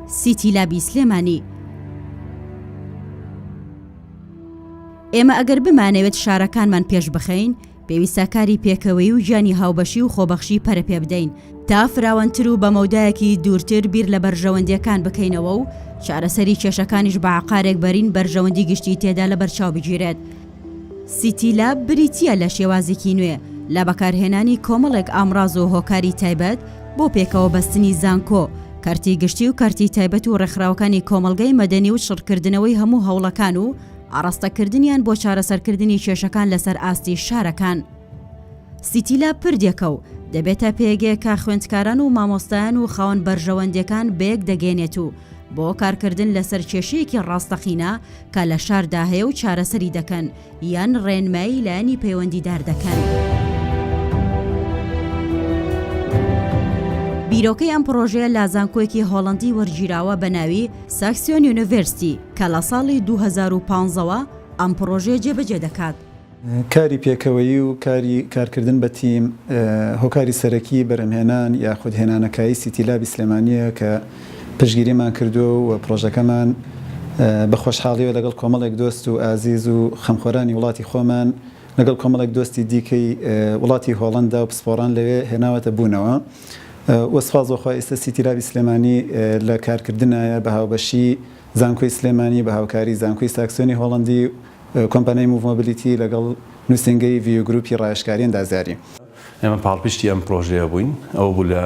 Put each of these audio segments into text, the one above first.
سیتی لابی سلێمانی ئێمە ئەگەر بمانەوێت شارەکانمان پێش بخەین پێویستە کاری پێکەوەی و گیانی هاوبەشی و خۆبەخشی پەرە پێ بدەین تا فراوانتر و بە مەودایەکی دوورتر بیر لە بەرژەوەندیەکان بکەینەوە و چارەسەری کێشەکانیش بە عقارێک بەرین بەرژەوەندی گشتی تێدا لە بەرچاو بگیرێت سیتی لاب بریتییە لە شێوازێکی نوێ لە بەکارهێنانی کۆمەڵێک ئامڕاز و هۆکاری تایبەت بۆ پێکەوە بەستنی زانکۆ، کەرتی گشتی و کەرتی تایبەت و ڕێکخراوەکانی کۆمەڵگەی مەدەنی و چڕکردنەوەی هەموو هەوڵەکان و ئاڕاستەکردنیان بۆ چارەسەرکردنی کێشەکان لەسەر ئاستی شارەکان. سیتی لاب پردێکە و دەبێتە پێگەیەک کە خوێندکاران و مامۆستایان و خاوەن بەرژەوەندیەکان بەیەک دەگەێنێت و بۆ کارکردن لەسەر کێشەیەکی ڕاستەقینە کە لە شاردا هەیە و چارەسەری دەکەن یان ڕێنمایی لایەنی پەیوەندیدار دەکەن. بیرۆکەی ئەم پرۆژەیە لە زانکۆیەکی هۆڵندی وەرگیراوە بە ناوی ساکسیۆن یونیڤرستی کە لە ساڵی 2015ەوە ئەم پرۆژەیە جێبەجێ دەکات. کاری پێکەوەیی و کاری کارکردن بە تیم هۆکاری سەرەکیی بەرهەمهێنان یاخود هێنانەکایی سیتی لابی سلێمانییە کە پشتگیریمان کردووە و پڕۆژەکەمان بە خۆشحاڵییەوە لەگەڵ کۆمەڵێک دۆست و ئازیز و خەمخۆرانی وڵاتی خۆمان لەگەڵ کۆمەڵێک دۆستی دیکەی وڵاتی هۆڵەندا و پسپۆڕان لەوێ هێناوەتە بوونەوە و سوپاس بۆ خوا ئیستە سیتی لابی سلێمانی لە کارکردنایە بە هاوبەشیی زانکۆی سلێمانی بە هاوکاری زانکۆی ساکسۆنی هۆڵەندی و کۆمپانیای موڤ مۆبلیتی لەگەڵ نووسینگەی ڤیو گرووپی ڕایشکاری ئەندازیاری. ئێمە پاڵپشتی ئەم پڕۆژەیە بووین، ئەوە بوو لە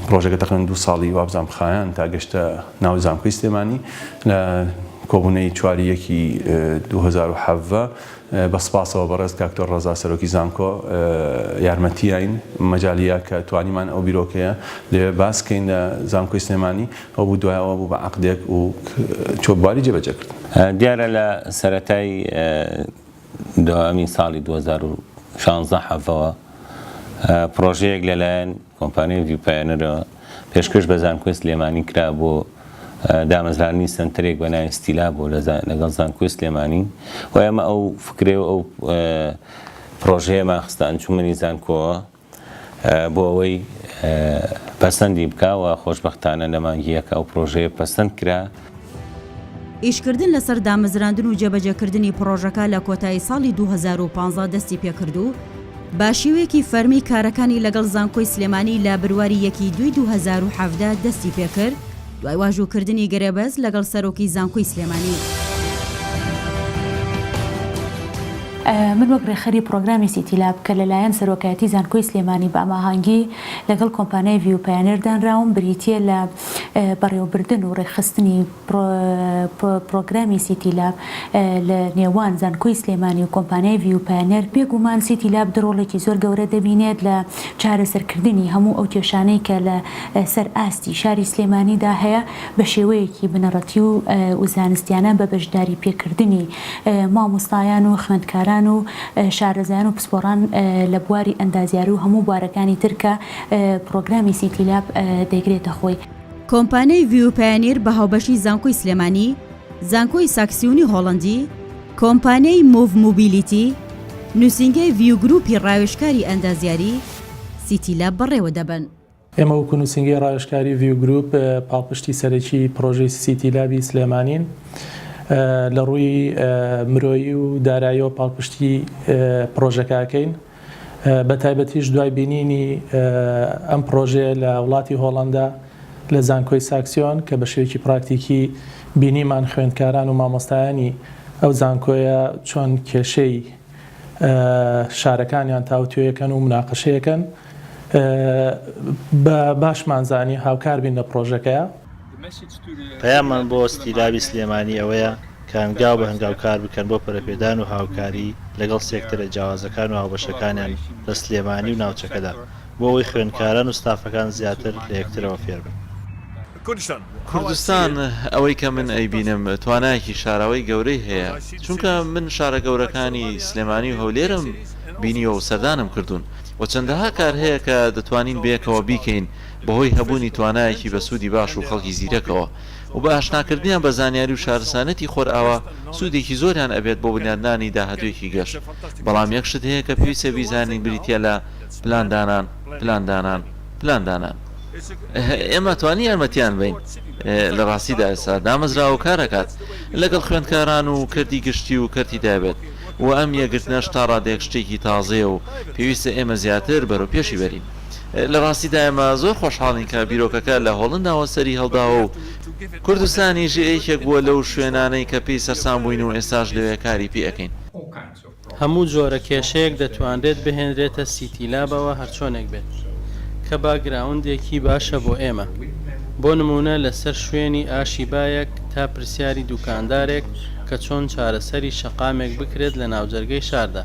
پڕۆژەکە تەقریبەن دوو ساڵی وابزانم خایاند تا گەشتە ناو زانکۆی سلێمانی لە کۆبوونەی چوار ی یەکی دوو هەزار و حەڤدە بە سپاسەوە بەڕێز کاک تۆر ڕەزا سەرۆکی زانکۆ یارمەتیاین مەجالییا کە توانیمان ئەو بیرۆکەیە لەوێ باس کەین لە زانکۆی سلێمانی. ئەو بوو دوای ئەوە بوو بە عەقدێک و چووە بواری جێبەجێکردن. دیارە لە سەرەتای دوایین ساڵی دوو هەزار و شانزدە حەڤەوە پڕۆژەیەک لەلایەن کۆمپانیای ڤیو پایۆنرەوە پێشکەش بە زانکۆی سلێمانی کرا بۆ دامەزراندنی سەنتەرێک بە ناوی ستیلا بۆ لەگەڵ زانکۆی سلێمانی و ئێمە ئەو فکرەی و ئەو پڕۆژەیەمان خستە ئەنجوومەنی زانکۆوە. بۆ ئەوەی پەسەندی بکا و خۆشبەختانە لە مانگی یەک ئەو پڕۆژەیە پەسەند کرا. ئیشکردن لەسەر دامەزراندن و جێبەجێکردنی پڕۆژەکە لە کۆتایی ساڵی دوو هەزار و پازدە دەستی پێکرد و بە شێوەیەکی فەرمی کارەکانی لەگەڵ زانکۆی سلێمانی لە برواری یەکی دووی دوو هەزار و حەڤدە دەستی پێکرد، دوای واژووکردنی گرێبەست لەگەڵ سەرۆکی زانکۆی سلێمانی. من وەک رێکخەری پڕۆگرامی سیتی لاب کە لەلایەن سەرۆکایەتی زانکۆی سلێمانی بەاماهانگی لەگەڵ کۆمپانیای ڤیو پایەنێر دانراوم بریتیە لە بەڕێوەبردن و رێکخستنی پڕۆگرامی سیتی لاب لە نێوان زانکۆی سلێمانی و کۆمپانیای ڤیو پایەنێر بێگومان سیتی لاب رۆڵێکی زۆر گەورە دەبینێت لە چارەسەرکردنی هەموو ئەو کێشانەی کە لە سەر ئاستی شاری سلێمانی دا هەیە بە شێوەیەکی بنەڕەتی و زانستیانە بە بەشداری پێکردنی مامۆستایان و خوێندکاران و شارەزایان و پسپۆڕان لە بواری ئەندازیاری و هەموو بوارەکانی تر کە پڕۆگرامی سیتی لاب دەیگرێتە خۆی. کۆمپانیای ڤیوپایەنیر بە هاوبەشی زانکۆی سلێمانی، زانکۆی ساکسیونی هۆڵەندی، کۆمپانیای موڤ موبیلیتی، نوسینگەی ڤیو گروپی ڕاوێژکاری ئەندازیاری، سیتی لاب بەڕێوە دەبەن. ئێمە وەکو نوسینگەی ڕاوێژکاری ڤیو گروپ پاڵپشتی سەرەکی پڕۆژەی سیتی لابی سلێمانین. لەڕووی مرۆیی و داراییەوە پاڵپشتی پڕۆژەکە ئەکەین. بە تایبەتیش دوای بینینی ئەم پڕۆژەیە لە وڵاتی هۆڵەندا لە زانکۆی ساکسیۆن کە بە شێوەیەکی پراکتیکی بینیمان خوێندکاران و مامۆستایانی ئەو زانکۆیە چۆن کێشەی شارەکانیان تاوتوێکەن و مناقەشەیەکەن باشمان زانی هاوکار بین لە پڕۆژەکەیە. پەیاممان بۆ ستیلابی سلێمانی ئەوەیە کە هەنگاو بە هەنگاو کار بکەن بۆ پەرەپێدان و هاوکاری لەگەڵ سێکتەرە جیاوازەکان و هاوبەشەکانیان لە سلێمانی و ناوچەکەدا بۆ ئەوەی خوێندکاران و ستافەکان زیاتر لە یەکترەوە فێربن. کوردستان ئەوەی کە من ئەیبینم توانایەکی شاراوەی گەورەی هەیە، چونکە من شارە گەورەکانی سلێمانی و هەولێرم بینیوە و سەردانم کردوون و چەندەها کار هەیە کە دەتوانین بەیەکەوە بیکەین، بەهۆی هەبوونی توانایەکی بەسوودی باش و خەڵکی زیرەکەوە و بە ئاشناکردنیان بە زانیاری و شارستانیەتی خۆرئاوا سوودێکی زۆریان ئەبێت بۆ بنیادنانی داهاتوویەکی گەش بەڵام یەک شت هەیە کە پێویستە بیزانین بریتیە لە پلاندانان پلاندانان پلاندانان ئێمە توانی یارمەتیان بین لە ڕاستیدا ئێستا دامەزراوە و کارەکات لەگەڵ خوێندکاران و کەرتی گشتی و کەرتی دابێت و ئەم یەکگرتنەش تا ڕادەیەک شتێکی تازەیە و پێویستە ئێمە زیاتر بەرەو پێشی بەرین. لە ڕاستیدا ئێمە زۆر خۆشحاڵین کە بیرۆکەکە لە هۆڵنداوە سەری هەڵداوە و کوردستانیش یەکێک بووە لەو شوێنانەی کە پێی سەرسام بووین و ئێستاش لەوێ کاری پێ ئەکەین. هەموو جۆرە کێشەیەک دەتوانرێت بهێنرێتە سیتی لابەوە هەرچۆنێک بێت کە باکگراوندێکی باشە بۆ ئێمە بۆ نموونە لەسەر شوێنی ئاشی بایەک تا پرسیاری دووکاندارێک کە چۆن چارەسەری شەقامێک بکرێت لە ناوجەرگەی شاردا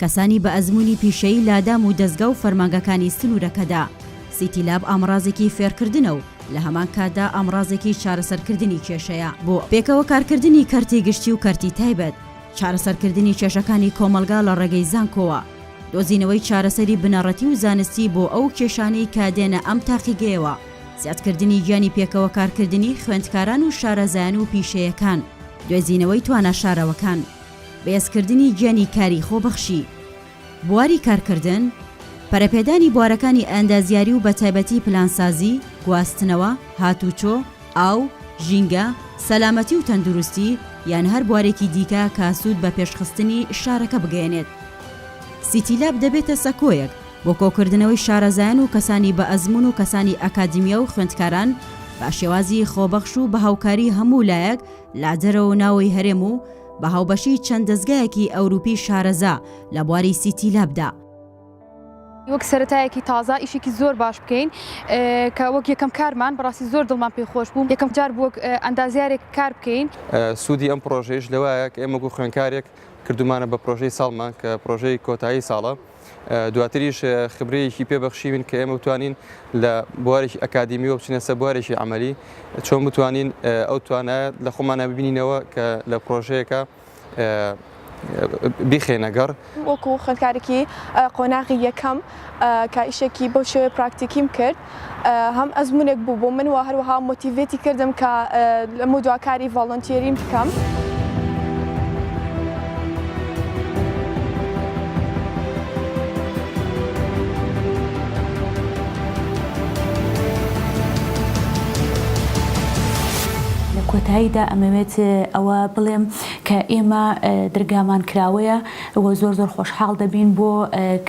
کەسانی بە ئەزموونی پیشەیی لە دام و دەزگا و فەرمانگەکانی سنوورەکەدا. سیتی لاب ئامڕازێکی فێرکردنە و لە هەمان کاتدا ئامڕازێکی چارەسەرکردنی کێشەیە بۆ پێکەوە کارکردنی کەرتی گشتی و کەرتی تایبەت، چارەسەرکردنی کێشەکانی کۆمەڵگا لە ڕێگەی زانکۆوە، دۆزینەوەی چارەسەری بنەڕەتی و زانستی بۆ ئەو کێشانەی کە دێنە ئەم تاقیگەیەوە، زیادکردنی گیانی پێکەوەکارکردنی خوێندکاران و شارەزایان و پیشەیەکان، دوێزینەوەی توانا شارەوەکان. بەهێزکردنی گیانی کاری خۆبەخشی بواری کارکردن، پەرەپێدانی بوارەکانی ئەندازیاری و بەتایبەتی پلانسازی، گواستنەوە، هاتوچۆ، ئاو، ژینگە، سەلامەتی و تەندروستی، یان هەر بوارێکی دیکە کە سوود بە پێشخستنی شارەکە بگەیەنێت. سیتی لاب دەبێتە سەکۆیەک بۆ کۆکردنەوەی شارەزایان و کەسانی بەئەزموون و کەسانی ئەکادیمیا و خوێندکاران بە شێوازی خۆبەخش و بە هاوکاری هەموو لایەک لە دەرەوە و ناوەوەی هەرێم و بە هاوبەشی چەند دەزگایەکی ئەوروپی شارەزا لە بواری سیتی لابدا. وەک سەرەتایەکی تازە ئیشێکی زۆر باش بکەین کە وەک یەکەم کارمان بەڕاستی زۆر دڵمان پێ خۆش بوو یەکەم جار بووک ئەندازیارێک کار بکەین سوودی ئەم پرۆژەیش لەوایە کە ئێمە گوو خوێنکارێک کردومانە بە پرۆژەی ساڵمان کە پرۆژەی کۆتایی ساڵە دواتریش خبرەیەکی پێ بەخشیوین کە ئێمە بتوانین لە بوارێکی ئەکادیمیەوە بچینە سەر بوارێکی عملی چۆن بتوانین ئەو توانایە لە خۆمانە ببینینەوە کە لە پرۆژەیەەکە بیخێنە گەڕ وەکو خوێندکارێکی قۆناغی یەکەم کە ئیشێکی بەو شێوەیە پراکتیکیم کرد هەم ئەزمونێک بوو بۆ من و هەروەها مۆتیڤێتی کردم کە لەمە دوا کاری ڤاڵۆنتیێریم بکەم. کۆتاییدا ئەمەوێت ئەوە بڵێم کە ئێمە درگامان کراوەیە و زۆر زۆر خۆشحاڵ دەبین بۆ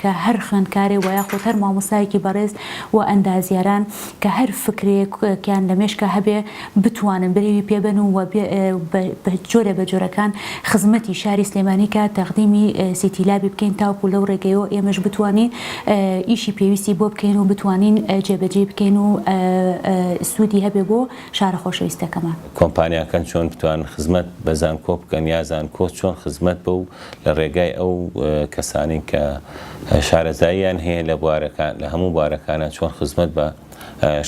کە هەر خوێندکارێ وە یاخود هەر مامۆستایەکی بەڕێز و ئەندازیاران کە هەر فکرەیەکیان لە مێشکا هەبێ بتوانن برەوی پێ بەن و بە جۆرە بە جۆرەکان خزمەتی شاری سلێمانی کا تەقدیمی سیتی لابی بکەین تاوکو لەو ڕێگەیەوە ئێمەش بتوانین ئیشی پێویستی بۆ بکەین و بتوانین جێ بە جێی بکەین و سوودی هەبێ بۆ شارە خۆشەویستەکەمان. کۆمپانیاکان چۆن بتوانن خزمەت بە زانکۆ بکەن یا زانکۆ چۆن خزمەت بەو لە ڕێگای ئەو کەسانەی کە شارەزاییان هەیە لە بوارەکان لە هەموو بوارەکانە چۆن خزمەت بە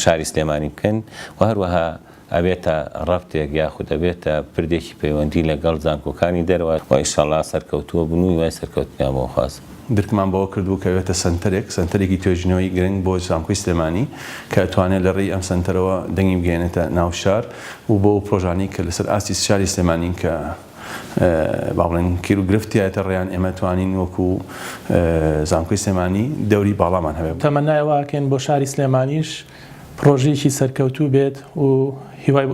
شاری سلێمانی بکەن و هەروەها ئەبێتە ڕەفتێک یاخود ئەبێتە پردێکی پەیوەندی لەگەڵ زانکۆکانی دەرەوە و ئیشەڵا سەرکەوتووە بن و هیوای سەرکەوتنیان بۆ خوازم. درکمان بەوە کردبوو کە ئەبێتە سەنتەرێک، سەنتەرێکی توێژینەوەی گرنگ بۆ زانکۆی سلێمانی کە ئەتوانێت لە ڕێی ئەم سەنتەرەوە دەنگی بگەیەنێتە ناو شار و بۆ ئەو پڕۆژانەی کە لەسەر ئاستی شاری سلێمانین کە با بڵێن کیرو گرفت تیایەتە ڕێیان ئێمە توانین وەکو زانکۆی سلێمانی دەوری باڵامان هەبێت. تەمەنای ئەوە ئەکەین بۆ شاری سلێمانیش پڕۆژەیەکی سەرکەوتوو بێت و هیوای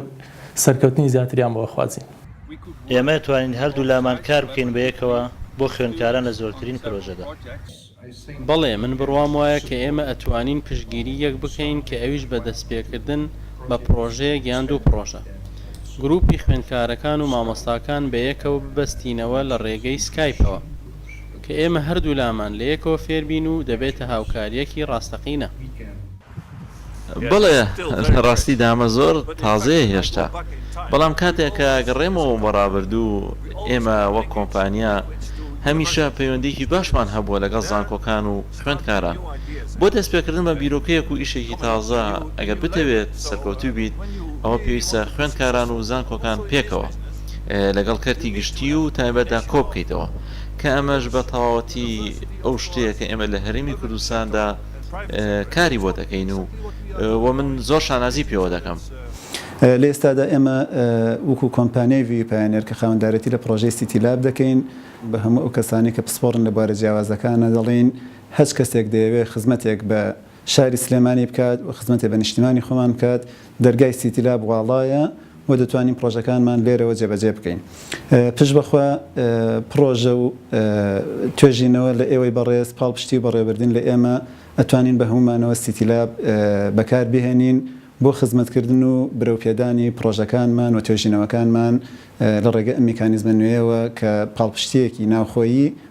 سەرکەوتنی زیاتریان بۆ ئەخوازین. ئێمە توانین هەردوو لامان کار بکەین بەیەکەوە بۆ خوێندکاران لە زۆرترین پرۆژەدا. بەڵێ، من بڕوام وایە کە ئێمە ئەتوانین پشتگیری یەک بکەین کە ئەویش بە دەستپێکردن بە پڕۆژەیەک یان دوو پڕۆژە. گروپی خوێندکارەکان و مامۆستاکان بە یەکەوە ببەستینەوە لە ڕێگەی سکایپەوە کە ئێمە هەردوولامان لە یەکەوە فێربین و دەبێتە هاوکارییەکی ڕاستەقینە. بەڵێ لە ڕاستیدا ئەمە زۆر تازەیە هێشتا، بەڵام کاتێک کە ئەگەڕێمەوە بۆ ڕابردوو، ئێمە وەک کۆمپانیا هەمیشە پەیوەندییەکی باشمان هەبووە لەگەڵ زانکۆکان و خوێندکاران بۆ دەستپێکردن بە بیرۆکەیەک و ئیشێکی تازە، ئەگەر بتەوێت سەرکەوتوو بیت ئەوە پێویستە خوێندکاران و زانکۆکان پێکەوە لەگەڵ کەرتی گشتی و تایبەتدا کۆبکەیتەوە کە ئەمەش بە تەواوەتی ئەو شتەیە کە ئێمە لە هەرێمی کوردستاندا کاری بۆ دەکەین و و من زۆر شانازی پێوە دەکەم. لە ئێستادا ئێمە وەکو کۆمپانیای ڤیوی پایۆنێر کە خاوەندارێتی لە پڕۆژەی سیتی لاب دەکەین، بە هەموو ئەو کەسانەی کە پسپۆڕن لە بوارە جیاوازەکانە دەڵێین، هەچ کەسێک دەیەوێت خزمەتێک بە شاری سلێمانی بکات و خزمەتێ بە نیشتیمانی خۆمان بکات، دەرگای سیتی لاب واڵایە و دەتوانین پڕۆژەکانمان لێرەوە جێبەجێ بکەین. پشت بەخوا پڕۆژە و توێژینەوە لە ئێوەی بەڕێز، پاڵپشتی و بەڕێوەبردن لە ئێمە، ئەتوانین بە هەموو مانەوە سیتی لاب بەکار بهێنین بۆ خزمەتکردن و برەو پێدانی پڕۆژەکانمان و توێژینەوەکانمان لە ڕێگە ئەم میکانیزمە نوێیەوە کە پاڵپشتییەکی ناوخۆیی